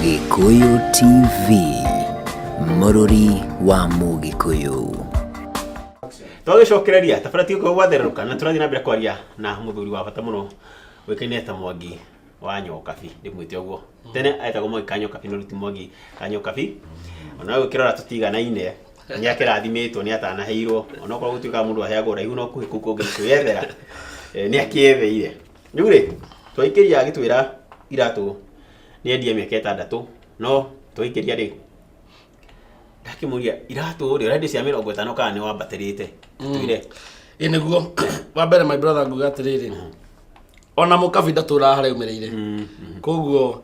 Gĩkũyũ TV, mũrũri wa Mũgĩkũyũ. twagĩcokereria tabara ti gũkorwo gwatherũka na tũrathiĩ na mbere kwaria na mũthuri wa bata mũno wĩkaine ta mwangi wa nyokabi ndĩmwĩte ũguo tene etagwo mwangi ka nyokabi no rĩu ti mwangi ka nyokabi ona we ũkĩrora tũtiganaine nĩ akĩrathimĩtwo nĩ atanaheirwo onokorwo gũtuĩkaga mũndũ aheagwo raihu no kũhĩ kũu kũngĩ kwĩyethera eh, nĩ akĩetheire rĩu rĩ twaikĩria agĩtwĩra iratũ nĩendie mĩaka ĩtandatũ no twaikĩria rĩ ndakĩmũria iratũ rĩ ũrendia cia mĩrongo ĩtano kana nĩ wambatĩrĩte twire ĩ nĩguo wa mbere my brother nguga atĩrĩrĩ ona mũkabi ndatũraga harĩa aumĩrĩire koguo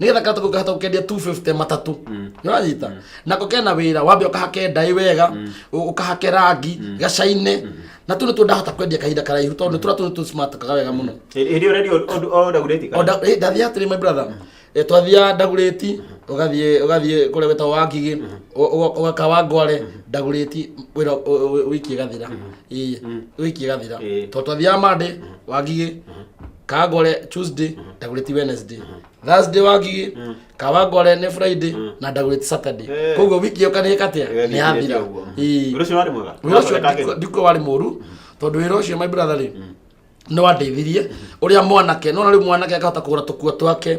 nigetha katuko ngahota gukendia 250 matatu niranyita nako kena wira wambe ukahake ndai wega u- ukahake rangi gacaine na tu nitu ndahota kwendia kahinda karaihu tondu tura tu tu smart kaga wega muno Hĩndĩ ĩyo redio ũndagurĩti kana? Onda- eh, ndathia atiri my brother Eh, twathia ndaguriti ugathie ugathie kuria weta wa ngigi ugaka wa ngware ndaguriti wira wiki gathira ii wiki gathira Eh. to twathia mande wa ngigi kagore tuesday ndagureti wednesday thursday wagiĩ kawangore nĩ friday na ndagureti saturday Eh. koguo wiki ĩyo kanĩka atĩa nĩ Wĩra yathira ũguo. Ii. Wĩra ũcio warĩ mwega? Wĩra ũcio Ũrathondeka ndiko- kĩndũ? ndiko warĩ mũru tondũ wĩra ũcio my brother rĩ nĩ wandeithirie ũrĩa mwanake nona rĩu mwanake akahota kũgũra tũkua twake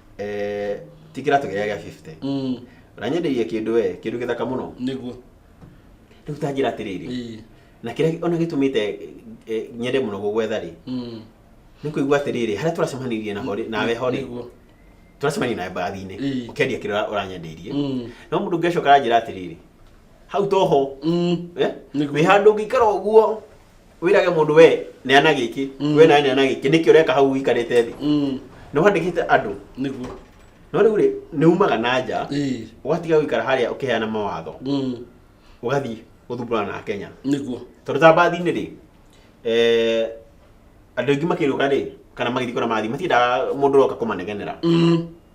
eh, ti kĩratũ gĩa gĩa 50 Mm, na nyendeirie kĩndũ we kĩndũ gĩthaka mũno nĩguo rĩu tanjĩra atĩrĩrĩ Ĩĩ. na kĩrĩa ona gĩtũmĩte eh, eh, nyende mũno gũgwetha rĩ Mm, nĩ kũigua atĩrĩrĩ harĩa tũracemanirie na horĩ nawe horĩ nĩguo tũracemania nawe mbathi-inĩ Ĩĩ. ũkendia kĩrĩa ũra- ũranyendeirie Mm, no mũndũ ũngĩ acoka aranjĩra atĩrĩrĩ hau toho mm, eh? Nĩguo. wĩ handũ ũngĩikara ũguo wirage mundu we neana giki Mm. we nawe neana giki niki ureka hau wikarite thi Mm. ni wandikite andu Nĩguo. no riu ri ni umaga na nja Ĩĩ. ugatiga gwikara haria ukiheana mawatho Mm. ugathii guthumbura na Kenya Nĩguo. tondu ta mbathi-inĩ rĩ eh, andũ aingĩ makĩrũka rĩ kana magĩthiĩ kũrĩa mathiĩ matiendaga mũndũ ũroka kũmanegenera Mm.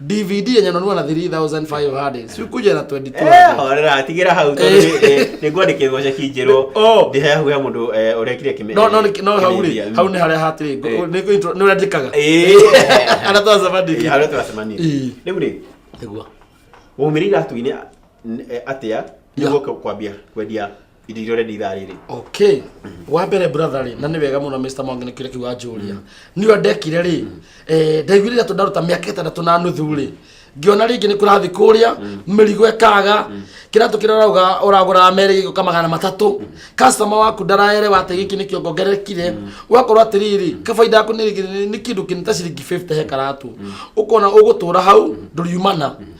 dvd yenye nanua na 3500 si kuja na 2200 horera tigĩra hau tondũ nĩ- nĩ- nĩngwandĩkĩrwo ceki njerũ Oh. ndĩhehuhe mũndũ eh, ũrekire kĩme- no no nĩ- no hau rĩ kĩmedia. hau nĩ harĩa hatĩrĩ Eh. nĩ intro- nĩ ũrandĩkaga Eh. arĩa Eh, twacemandĩki harĩa tũracemania Eh. rĩu rĩ nĩguo waumire iratu-inĩ n- eh, atĩa Nĩ. nĩguo kwambia kwendia irio iria ũrenda ithaa rĩrĩ okay wa mbere brother rĩ na nĩ wega mũno Mr. Mwangi nĩ kĩrĩa kĩu wanjũria nĩ ũrĩa ndekire rĩ eh, ndaiguire gatũ ndaruta mĩaka ĩtandatũ na nuthu rĩ ngĩona rĩngĩ nĩ kũrathiĩ kũrĩa mĩrigo ĩkaga kĩratũ kĩrĩa ũrauga ũragũra merĩ gĩgũka magana matatũ customer waku ndaraerewa atĩ gĩkĩ nĩkĩo ngongerekire ũgakorwo atĩrĩrĩ kabaida yaku nĩ nĩ kĩndũ kĩnĩ ta ciringi 50 he karatũ ũkona ũgũtũra hau ndũriumana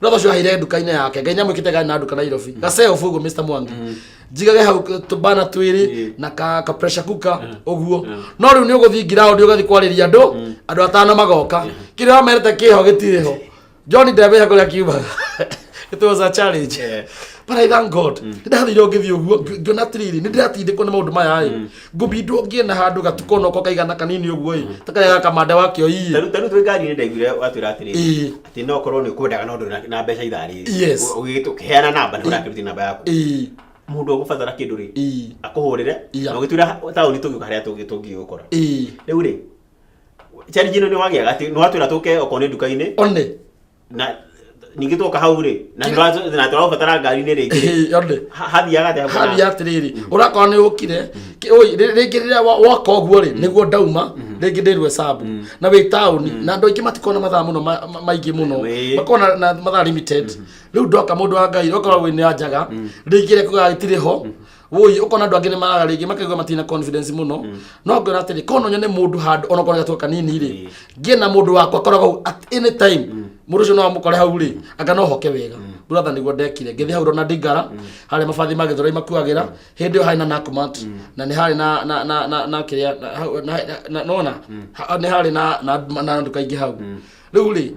brother ũcio ahire nduka-inĩ yake ngai nyamwĩkĩte gari na nduka nairobi gaceo fugu mr mwangi njigage hau k- tũbana twĩrĩ na ka ka pressure cooker ũguo no rĩu nĩ ũgũthiĩ ngiraũndi ũgathiĩ kwarĩria andũ andũ atano magoka kĩrĩa wamerete kĩho gĩtirĩ ho john ndemenya kũrĩa kiumaga it was a challenge but i thank god nĩ ndathire ngĩthiĩ ũguo ngi- ngĩona atĩrĩrĩ nĩ ndĩratindĩkwo nĩ maũndũ maya rĩ ngũbindwo ngiĩ na handũ gatuko noko kaigana kanini ũguo ĩ takarĩa gakamanda wakĩo iĩ Tarĩu tarĩu twĩ ngari-inĩ ndaiguire watwĩra atĩrĩ Ĩĩ. atĩ no korwo nĩ kwendaga no ndũrĩ na mbeca ithaa rĩrĩ Yes. ũgĩgĩtũ ũkĩheana namba nĩ ũrakĩrutia namba yaku ĩĩ mũndũ ũgũbatara kĩndũ rĩ ĩĩ akũhũrĩre Iya. na ũgĩtwĩra taũni tũgĩũka harĩa tũngĩ tũngĩgũkora ĩĩ rĩu rĩ challenge ĩno nĩ wagĩaga atĩ nĩ watwĩra tũke okorwo nĩ nduka-inĩ one na ningĩ twoka hau rĩ na Kĩrĩa- tũra- na tũraũbatara ngari-inĩ rĩngĩ rĩ, Yone. ha- hathiaga atĩa mbura? hali atiriri urakora ni ukire ringi riria woka uguo ri niguo ndauma ringi ndirwe sabu na wi tauni na andu aingi matikona mathaa muno ma- ma- maingi muno Wĩ. makona na mathaa limited riu ndoka mundu wa ngai okorwo wi ni anjaga ringi ria kuga itiri ho woi ukona andu angi ni maraga ringi makaigua matina confidence muno no ngona atiri kono nyone mundu handu ona kona gatu kanini ri ngie na mundu wakwa koragwo at any time mundu ucio no amukore hau ri anga no hoke wega brother niguo ndekire ngithi hau rona ndigara hari mabathi ma githura imakuagira hindi yo hari na nakumat na ni hari na na na na na kiria na- hau- na- na- na- nona Ha- ni hari na na na nduka ingi hau riu ri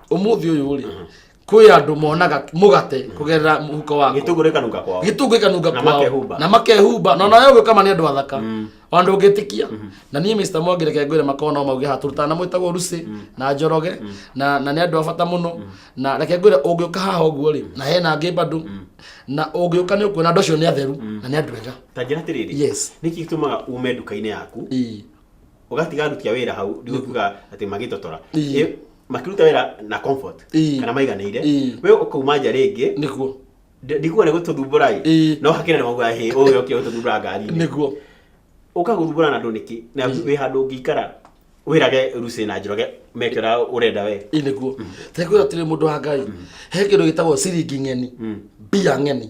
umuthi uyu ri kwi andu monaga mugate kugerera muhuko waku gĩtũngũ rĩkanunga kwao gĩtungĩ kanunga Na kwao. makehumba. na makehumba na nawe ũguo kama nĩ andũ athaka ona ndũngĩtĩkia na niĩ Mr. Mwangi reke ngwĩre makorwo no mauge hatũrũtana na mwĩtagwo Rusi na Njoroge na na nĩ andũ a bata mũno na reke ngwĩre ũngĩũka haha ũguo rĩ na hena angĩ bado na ũngĩũka nĩ ũkuona andũ acio nĩ atheru na nĩ andũ ega ta njĩra atĩrĩrĩ Yes. nĩkĩ gĩtũmaga ume nduka-inĩ yaku Ii. ũgatiga aruti a wĩra hau ndigũkiuga atĩ magĩtotora Ii. Ĩ, makiruta wĩra na comfort Ĩĩ. kana maiganĩire Ĩĩ. we ũkauma nja rĩngĩ nĩguo ndi- ndikuga nĩ gũtũthumbũra Ĩĩ. ĩ no hakĩrĩ nĩ mauga hĩ ũyũ okire gũtũthumbũra ngari-inĩ nĩguo ũkagũthumbũra na andũ nĩkĩ na wĩ handũ ũngĩikara wĩrage rucĩ na njoroge meke ũrĩa ũrenda we Ĩĩ, nĩguo tekwĩra atĩrĩ mũndũ wa ngai he kĩndũ gĩtagwo ciringi ng'eni mbia ng'eni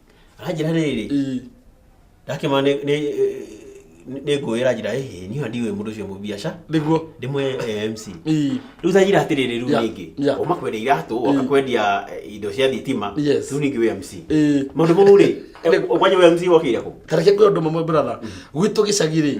aranjĩra rĩrĩ Ii. ndakĩma nĩ nĩ nĩ ngũĩra njĩra ĩhĩ niĩ ndiũĩ mũndũ ũcio mũbiaca nĩguo ndĩmwe MC Ii. rĩu tanjĩra atĩrĩrĩ rĩu Yeah, rĩngĩ yeah. uma kwendia iratũ Ii. oka kwendia eh, indo cia thitima Yes. rĩu ningĩ wĩ MC Ii. maũndũ mau rĩ eh, kwanja wĩ MC wokĩire kũ tareke kwä å ndå mamwe brother gwitå gä cagä rä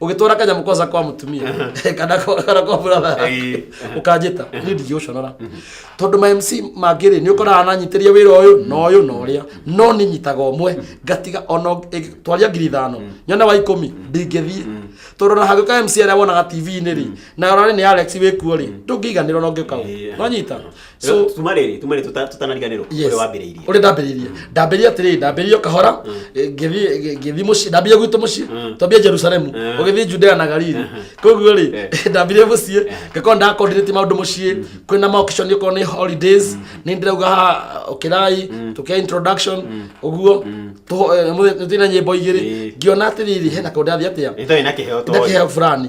ũgĩtwara kanyamũ koza kwa mũtumia kana kwa- kana kwa brother Ĩĩ. ũkanjĩta nĩ ndingĩũconora tondũ ma mc mangĩ rĩ nĩ ũkoraga nanyitĩria wĩra ũyũ na ũyũ na ũrĩa no nĩ nyitaga ũmwe ngatiga ona ũng- ĩ- twaria ngiri ithano nyone wa ikũmi ndingĩthiĩ tondũ na hagĩũka mc arĩa wonaga tv-inĩ rĩ na ũrarĩ nĩ alex wĩkuo rĩ ndũngĩiganĩra ona ũngĩũka Ĩĩ. no nyita so tuma rä rä tuma rä rä tũtanariganĩrwo Yes. ũrĩa wambĩrĩirie ũrĩa ndambĩrĩirie ndambĩrĩirie atĩrĩrĩ ndambĩrĩirie o kahora eh, ngĩthiĩ ngĩthiĩ mũciĩ ndambĩrĩirie gwitũ mũciĩ Mm. twambie jerusalemu Eh. ũgĩthiĩ judea na galili koguo rĩ Eh. ndambĩrĩirie mũciĩ ngakorwo ndakoordinate maũndũ mũciĩ kwĩna maokishon okorwo nĩ holidays nĩ ndĩrauga haha ũkĩrai tũkĩa introduction ũguo tũho- eh, mũthĩ- nĩtũina nyĩmbo igĩrĩ Eh. ngĩona atĩrĩrĩ hena kaũndũ ndathiĩ atĩa ĩtoĩ na kĩheo ĩna toĩ kĩheo fulani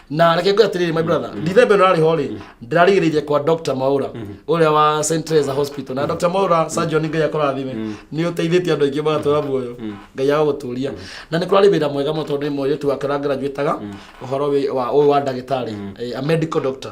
na reke ngwe atiriri my brother ndithembe no ariho ri ndirarigiririe kwa dr maura uria wa st teresa hospital na dr maura surgeon ngai akorathime ni uteithitie andu aingi magatura muoyo ngai aguturia na ni kurari wira mwega muno tondu ni mweretu wake rangrajuitaga uhoro wi- wa uyu wa ndagitari eh, a medical doctor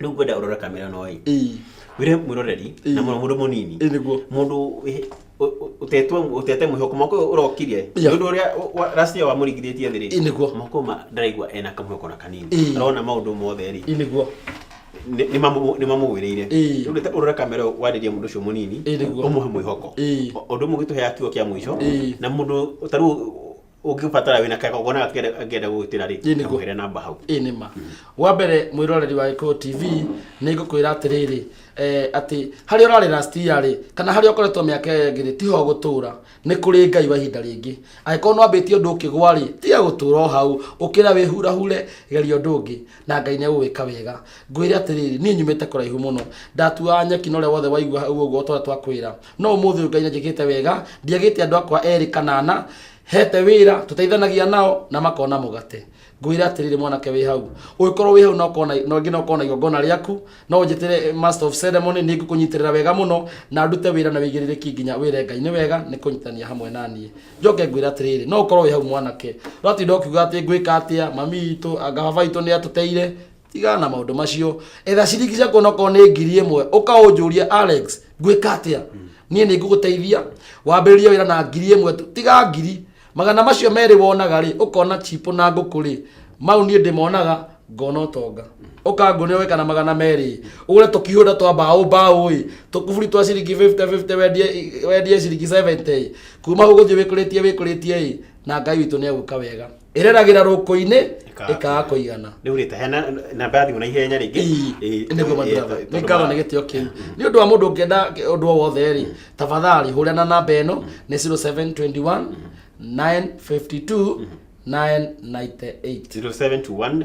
rĩu ngwenda ũrore kamera no ĩ ii wĩre mwĩroreri Ĩĩ. na mũno mũndũ mũnini ii nĩguo mũndũ wĩ- ũ- ũ- ũtetwe ũtete mwĩhoko mwaka ũyũ ũrokire Yeah. nĩ ũndũ ũrĩa wa- wa- last year wamũringithĩtie thĩ Ĩĩ, rĩ nĩguo. mwaka ũyũ ma- ndaraigua ena kamwĩhoko na kanini Ĩĩ. arona maũndũ mothe rĩ ii nĩguo nĩ- nĩ mamũ- nĩ mamũgwĩrĩire Ĩĩ. rĩu reke ũrore kamera ũyũ warĩria mũndũ ũcio mũnini Ĩĩ, nĩguo. ũmũhe mwĩhoko Ĩĩ. O- ũndũ ũmwe ũgĩtũhe akiugo kĩa mũico Ĩĩ. na mũndũ tarĩu ũngĩbatara wĩna kagogona ngenda gũgĩtĩra rĩ Ĩĩ, nĩguo. kamũhere namba hau ĩ nĩ ma wa mbere mwĩroreri wa gĩkũyũ tv nĩ ngũkwĩra atĩrĩrĩ eh, atĩ harĩa ũrarĩ last year rĩ kana harĩa ũkoretwo mĩaka ĩyo ĩngĩ rĩ tiho gũtũra nĩ kũrĩ ngai wa ihinda rĩngĩ angĩkorwo nwambĩtie ũndũ ũkĩgwa rĩ tiga gũtũra o hau ũkĩra wĩhurahure geria ũndũ ũngĩ na ngai nĩ agũgwĩka wega ngwĩre atĩrĩrĩ niĩ nyumĩte kũraihu mũno ndatuaga nyeki na ũrĩa wothe waigua hau ũguo twa twakwĩra no ũmũthĩ ũyũ ngai nanjĩkĩte wega ndiagĩte andũ akwa erĩ kana ana hete wĩra tũteithanagia nao na makona mũgate ngwĩra atĩrĩrĩ mwanake wĩ hau ũngĩkorwo wĩ hau na ũkona na ũngĩ na ũkona igongona rĩaku no njĩtĩre master of ceremony nĩ ngũkũnyitĩrĩra wega mũno na ndute wĩra na wĩigĩrĩrĩki nginya wĩre ngai nĩ wega nĩ kũnyitania hamwe na niĩ njoke ngwĩra atĩrĩrĩ no ũkorwo wĩ hau mwanake ũratinda ũkiuga atĩ ngwĩka atĩa mami witũ anga baba witũ nĩ atũteire tigana na maundu macio etha ciringi ciaku onokorwo nĩ ngiri ĩmwe ũkaũnjũria alex ngwĩka atĩa niĩ nĩ ngũgũteithia wambĩrĩrie wĩra na ngiri ĩmwe tu tiga ngiri magana macio merĩ wonaga rĩ ũkona chipo na ngũkũ rĩ mau niĩ ndĩmonaga ngona ũtonga ũkanguonera weka na magana merĩ ũgũre tũkihũra twa mbaũ mbaũ ĩ tũkuburi twa ciringi 50 50 wendie wendie ciringi 70 ĩ kuma ũgũthiĩ wĩkũrĩtie wĩkũrĩtie ĩ na ngai witũ nĩ egũka wega ĩreragĩra rũkũ-inĩ Ĩkaga ĩkaga kũigana rä u rä ta hena namba ya thimå na ihenya rä Ii, nĩguo mathiaga. Nĩ ngatho nĩ gĩtĩo kĩu nĩ ũndũ wa mũndũ ũngĩenda ũndũ o wothe rĩ tafadhali hũrĩa na namba ĩno nĩ 0721 952 998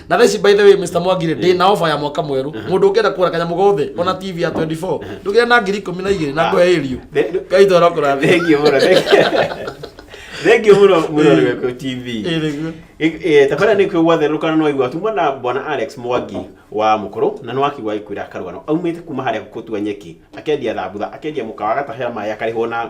na thaa ici by the way Mr Mwangire ndĩ na ofa ya mwaka mwerũ mũndũ ũngĩenda kũgũra kanyamũ gothe ona TV ya 24 ndũgĩra na ngiri ikũmi na igĩrĩ na ngoe ĩriũ The- ngai toro kũrathima Thengiũ mũno, thengiũ- thengiũ mũno mũno Rweko TV. Ĩĩ, nĩguo. Ĩ- ĩ, Tabara nĩ kwĩgwa therũkana nĩ waigua tumwa na bwana Alex Mwangi wa Mũkũrũ na nĩ wakigwa agĩkwĩra akarũgano aumĩte kuma harĩa gũtua nyeki akendia thambutha akendia mũkawa agatahe maĩ akarĩhwo na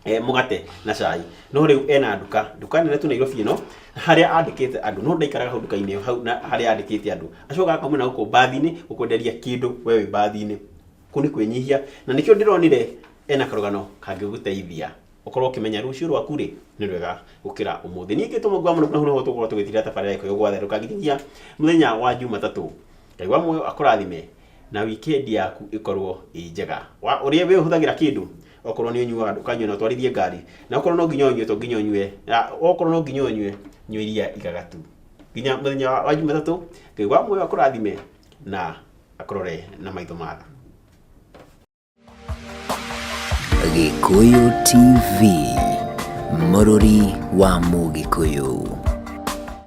eh, mũgate na cai no rĩu ena nduka nduka nene tu nairobi ĩno harĩa andĩkĩte andũ no ndaikaraga hau nduka-inĩ ĩyo hau na harĩa andĩkĩte andũ acoka akamwena gũkũ mbathi-inĩ gũkwenderia kĩndũ we wĩ mbathi-inĩ kũu nĩ kwĩnyihia na nĩkĩo ndĩronire ena karũgano kangĩgũteithia ũkorwo ũkĩmenya rũciũ rwaku rĩ nĩ rwega gũkĩra ũmũthĩ ningĩ tũmũgua mũno na hau tũkorwo tũgĩtira tabarĩra ĩkoyo gwatherũka nginya mũthenya wa jumatatũ ngai wa muoyo akũrathime na wikendi yaku ĩkorwo ĩ njega wa ũrĩa we ũhũthagĩra kĩndũ okorwo nĩ ũnyuaga ndũkanyue na ũtwarithie ngari na okorwo no nginya ũnyue to nginya ũnyue na okorwo no nginya ũnyue nyua iria igagatu nginya mũthenya wa wa jumatatũ ngai wa muoyo akũrathime na akũrore na maitho ma tha Gikuyu TV, Mururi wa Mugikuyu.